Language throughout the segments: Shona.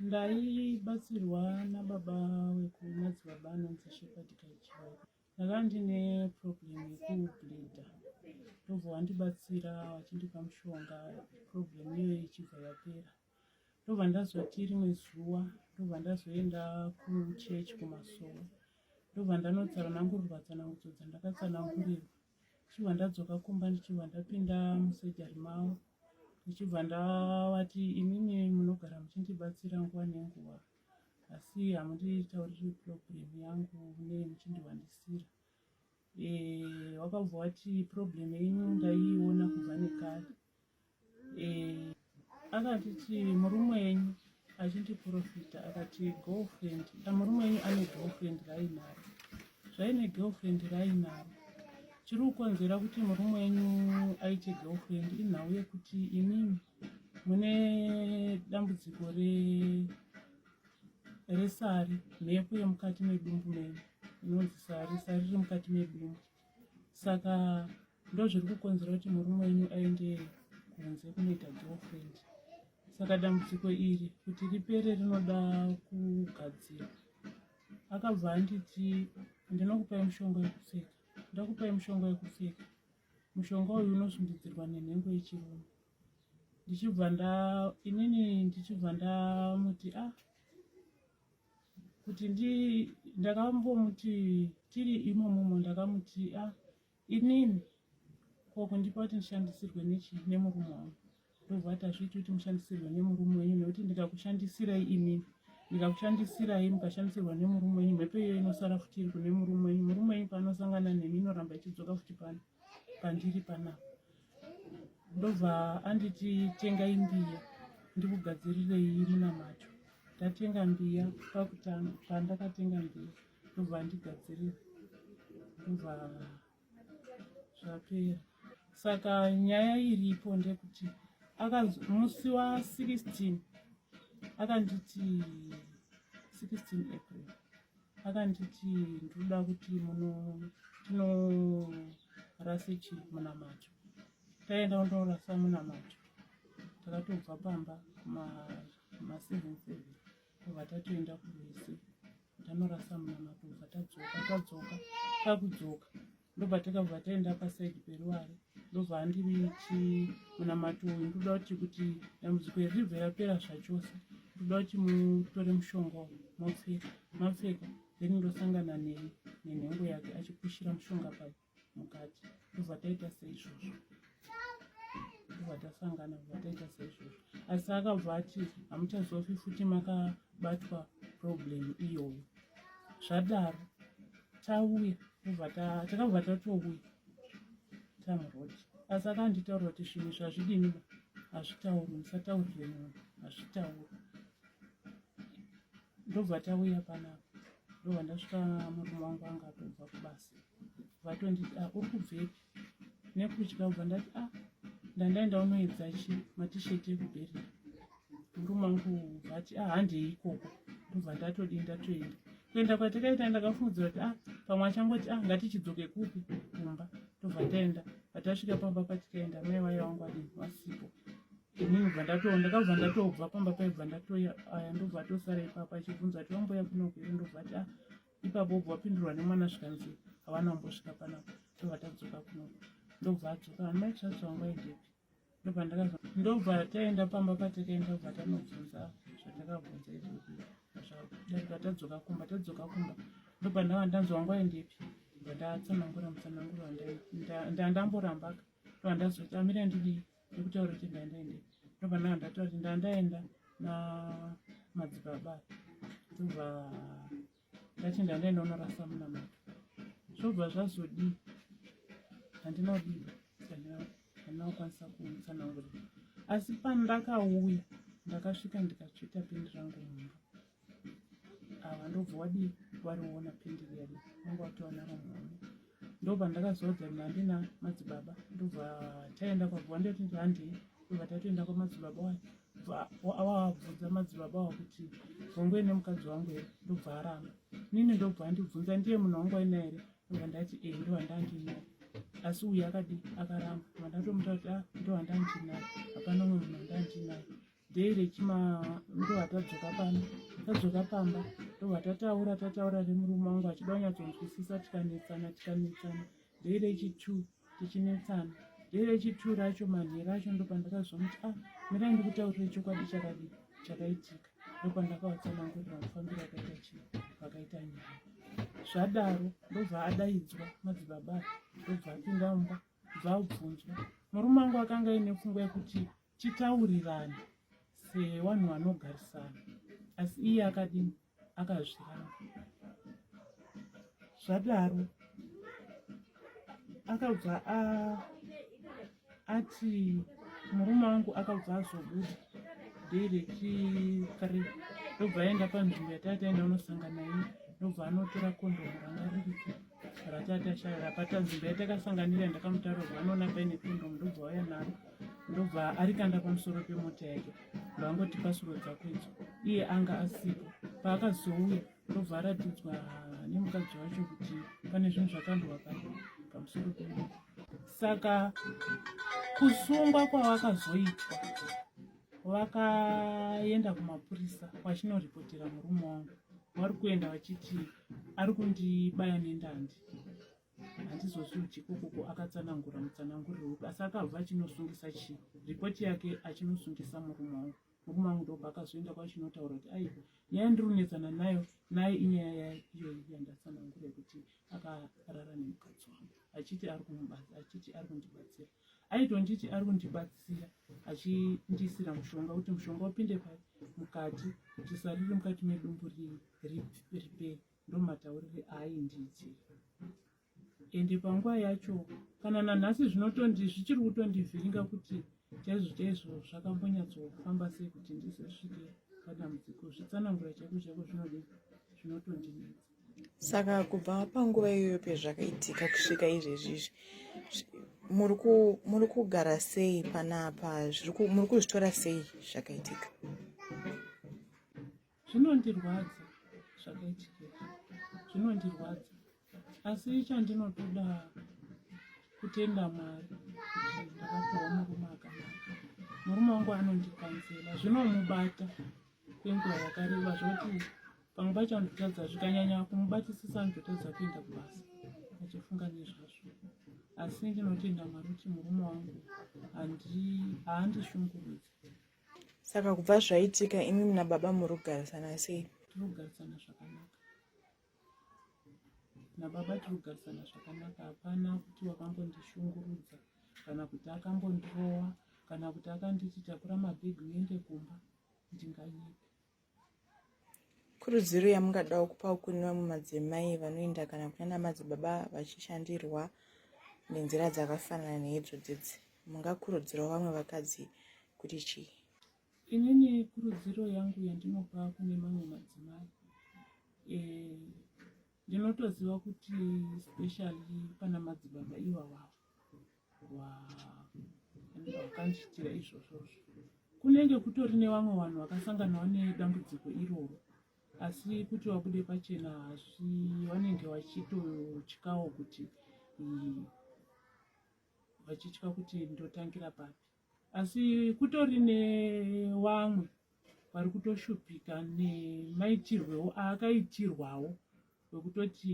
ndaibatsirwa nababa wekumadzibaba anonzi shepard kaichai ndaka ndine problem yekublida ndobva wandibatsira wachindipa mushonga problem iyoyo ichibva yapera ndobva ndazoti rimwe zuva ndobva ndazoenda kuchechi kumasowa ndobva ndanotsara nangurirwa tsanangudzo dzandakatsanangurirwa ndichibva ndadzoka kumba ndichibva ndapinda musejari mavo ndichibva ndavati imimi munogara muchindibatsira nguva nenguva asi hamunditauriri problem yangu ne muchindiwandisira eh, wakabva wati problem yenyu ndaiiona kubva nekare eh, akatiti murume wenyu achindiprofita akati girlfriend ah, murume wenyu ane girlfriend rainaro zvaine girlfriend rainaro chiri kukonzera kuti murume wenyu aite girlfriend inhau yekuti imimi mune dambudziko resari mhepo yemukati medumbu menyu inonzi sari sari riri mukati medumbu saka ndozviri kukonzera kuti murume wenyu aende kunze kunoita girlfriend saka dambudziko iri kuti ripere rinoda kugadzira akabva anditi ndinokupai mushonga wekupfeka ndakupai mushonga wekupfeka mushonga uyu unosundidzirwa nenhengo yechirume ndichibva nda inini ndichibva ndamuti a ah, kuti ndi ndakambomuti tiri imomomo ndakamuti a ah, Inini ko kundipa kuti ndishandisirwe nechii nemurume wangu ndobva ati hazviiti kuti mushandisirwe nemurume wenyu nekuti ndikakushandisirai inini ndikakushandisirai mukashandisirwa nemurume wenyu mhepo iyo inosara futi iri kune murume wenyu murume wenyu paanosangana nemi inoramba ichidzoka futi pano pandiri panapa ndobva anditi tengai mbiya ndikugadzirirei munamato ndatenga mbiya pakutanga pandakatenga mbiya ndobva andigadzirira ndobva zvapera saka nyaya iripo ndekuti musi wa 16 akanditi 16 april akanditi ndoda kuti muno tinorase chii munamacho taenda kundoorasa munamacho takatobva pamba maseven seven tobva tatoenda kurwizi tanorasa mwana tobva tadzoka tadzoka takudzoka ndobva takabva taenda pasaidi peruware ndobva andiri chimunamato uyu ndoda kuti kuti dambudziko iri ribve rapera zvachose ndoda kuti mutore mushonga uyu mopfeka mapfeka then ndosangana neni nenhengo yake achipushira mushonga pake mukati ndobva taita seizvozvo ndobva tasangana ndobva taita seizvozvo asi akabva ati hamuchazofi futi makabatwa problem iyoyo zvadaro tauya ndobva takabva tatouya tamurod asi akanditaura kuti zvinhu zvazvidini hazvitauri musataurire munhu hazvitauri ndobva tauya panapa ndobva ndasvika murume wangu anga atobva kubasa vatonditi a ah, uri kubvepi nekutya ubva ndati a ah, ndandaenda unoedza chi matisheti ekuberera murume wangu vati a ah, handei ikoko ndobva ndatodi ndatoenda kuenda kwatakaita ndakafungidzira kuti a pamwe achangoti a ngatichidzoke kupi kumba ndobva taenda patasvika pamba patikaenda mai vaye wangu adii vasipo ini ndobva ndatoa ndakabva ndatobva pamba paibva ndatoya aya ndobva atosara ipapo achibvunza ati wamboya kunoku here ndobva ati ah ipapo obva wapindurwa nemwana zvikanzi havana wambosvika panapa ndobva tadzoka kunoku ndobva adzoka amai tsvatsa wangu aidepi ndobva ndakabva ndobva taenda pamba patakaenda bva tanobvunza zvatakabvunza izvozvi zvadarika tadzoka kumba tadzoka kumba ndobva ndava ndanzi wangu aendepi bva ndatsanangura mutsananguro ndandamborambaka ndobva ndazotamira ndidii ndikutaura kuti ndandaende ndobana ndataura kuti ndandaenda namadzibaba ndobva ndati ndandaenda unorasa munamato zvobva zvazodii handina kudii handina kukwanisa kuutsanangurira asi pandakauya ndakasvika ndikatsveta pindi rangu mumba ava ndobva wadii wariona pendi riya vanga watoona ramhani ndobva ndakaziva kuti nandi na madzibaba ndobva taenda kwabva ndoti handei ndobva tatoenda kwamadzibaba wayo awabvunza madzibaba awa kuti vongoi nemukadzi wangu here ndobva aramba nini ndobva andibvunza ndiye munhu wangu aina here ndobva ndati e ndohandandinaye asi uyu akadi akaramba ndobva ndatomuta kuti a ah, ndohandandinaye hapana umwe munhu handandinaye day rechima ndova tadzoka pano tadzoka pamba ndova tataura tataura nemurume wangu achida kunyatsonzwisisa tikanetsana tikanetsana day rechitu tichinetsana day rechitu racho manhero acho ndopandakazomuti a ah, mirai ndikutaurire chokwadi chakadi chakaitika ndopandakavatsanangurira kufambira akaita chii vakaita nyaya zvadaro ndobva adaidzwa madzibaba ndobva apinda mumba bva abvunzwa murume wangu akanga aine pfungwa yekuti titaurirane sevanhu vanogarisana asi iye akadini akazviramba zvadaro akabva ati murume wangu akabva azobuda day rechithree ndobva aenda panzvimbo yatataenda unosangana iye ndobva anotora kondomu ranga ririko ratatashaya rapatanzvimbo yatakasanganira ndakamutaura kuti vanoona paine kondomu ndobva waya naro ndobva arikanda pamusoro pemota yake ndovangoti pasuro dzako idzo iye anga asipo paakazouya ndobva aratidzwa nemukadzi wacho kuti pane zvinhu zvakandwa pa pamusoro pemota saka kusungwa kwavakazoitwa vakaenda kumapurisa vachinoripotera murume wangu vari kuenda vachiti ari kundibaya nendandi handizozvidyi kokoko akatsanangura mutsananguriro upi asi akabva achinosungisa chii ripoti yake achinosungisa murume wangu murume wangu ndobva akazoenda kwachinotaura kuti ai nyaya ndiri kunetsana nayo naye inyaya yaiyoyi yandatsanangura yekuti akarara nemukadzi wangu achiti ari kumubasa achiti ari kundibatsira aitonditi ari kundibatsira achindiisira mushonga kuti mushonga upinde mukati kuti sariri mukati medumbu ripere ndomataurire aaindiitira ende panguva yacho kana nanhasi zvinotondi zvichiri kutondivhiringa kuti chaizvo chaizvo zvakambonyatsofamba sei kuti ndizosvike padambudziko zvitsanangura chaiko chaiko zvinodi zvinotondinetsa saka kubva panguva iyoyo pezvakaitika kusvika izvezvi izvi muri kugara sei panapa muri kuzvitora sei zvakaitika zvinondirwadza zvakaitika zvinondirwadza asi chandinotoda kutenda mwari kuti ndakapiwa murume akanaka murume wangu anondikanzela zvinomubata kwenguva yakareba zvoti pamwe pacho andotadza zvikanyanya kumubatisisa andotadza kuenda kubasa achifunga nezvazvo asi ndinotenda mwari kuti murume wangu haandishungurudzi saka kubva zvaitika imi muna baba muri kugarisana sei tiri kugarisana zvakanaka nababa tiri kugarisana zvakanaka hapana kuti wakambondishungurudza kana kuti akambondirowa kana kuti akanditi takura mabhegi uende kumba ndinganyepi Kurudziro yamungadawo kupa kune vamwe madzimai vanoenda kana kunana madzibaba vachishandirwa nenzira dzakafanana neidzo dzidzi mungakurudzirawo vamwe vakadzi kuti chii inini kurudziro yangu yandinopa kune mamwe madzimai eh, ndinotoziva kuti specially pana madzibaba ivava vakandiitira izvozvozvo kunenge kutori nevamwe vanhu vakasanganawo nedambudziko iroro asi kuti vabude pachena asi vanenge vachitotyawo kuti vachitya kuti ndotangira papi asi kutori nevamwe vari kutoshupika nemaitirwewo aakaitirwawo wekutoti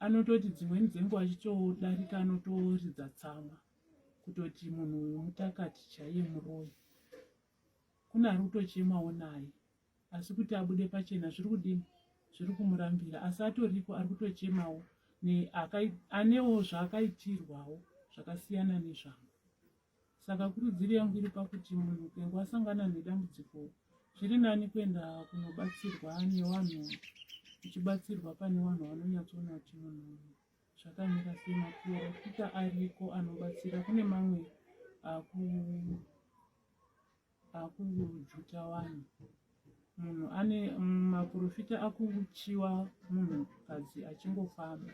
anototi dzimweni dzenguva achitodarika anotoridza tsamwa kutoti munhu uyu mutakati chaiye muroyi kune ari kutochemawo naye asi kuti abude pachena zviri kudini zviri kumurambira asi atoriko ari kutochemawo anewo zvaakaitirwawo zvakasiyana nezvangu Saka kurudziro yangu iri pakuti munhu ukange wasangana nedambudziko zviri nani kuenda kunobatsirwa nevanhu uchibatsirwa pane vanhu vanonyatsoona kuti munhu zvakamira sei maporofita ariko anobatsira kune mamwe aku Akujuta wani munhu ane maprofita akuchiwa munhu kadzi achingofamba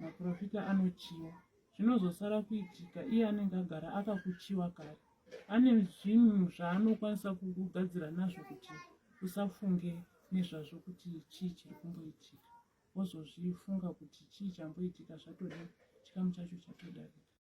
maprofita anochiwa zvinozosara kuitika iye anenge agara akakuchiwa kare ane zvinhu zvaanokwanisa kugadzira nazvo kuti usafunge nezvazvo kuti chii chiri kumboitika wozozvifunga kuti chii chamboitika zvatode chikamu chacho chatodarika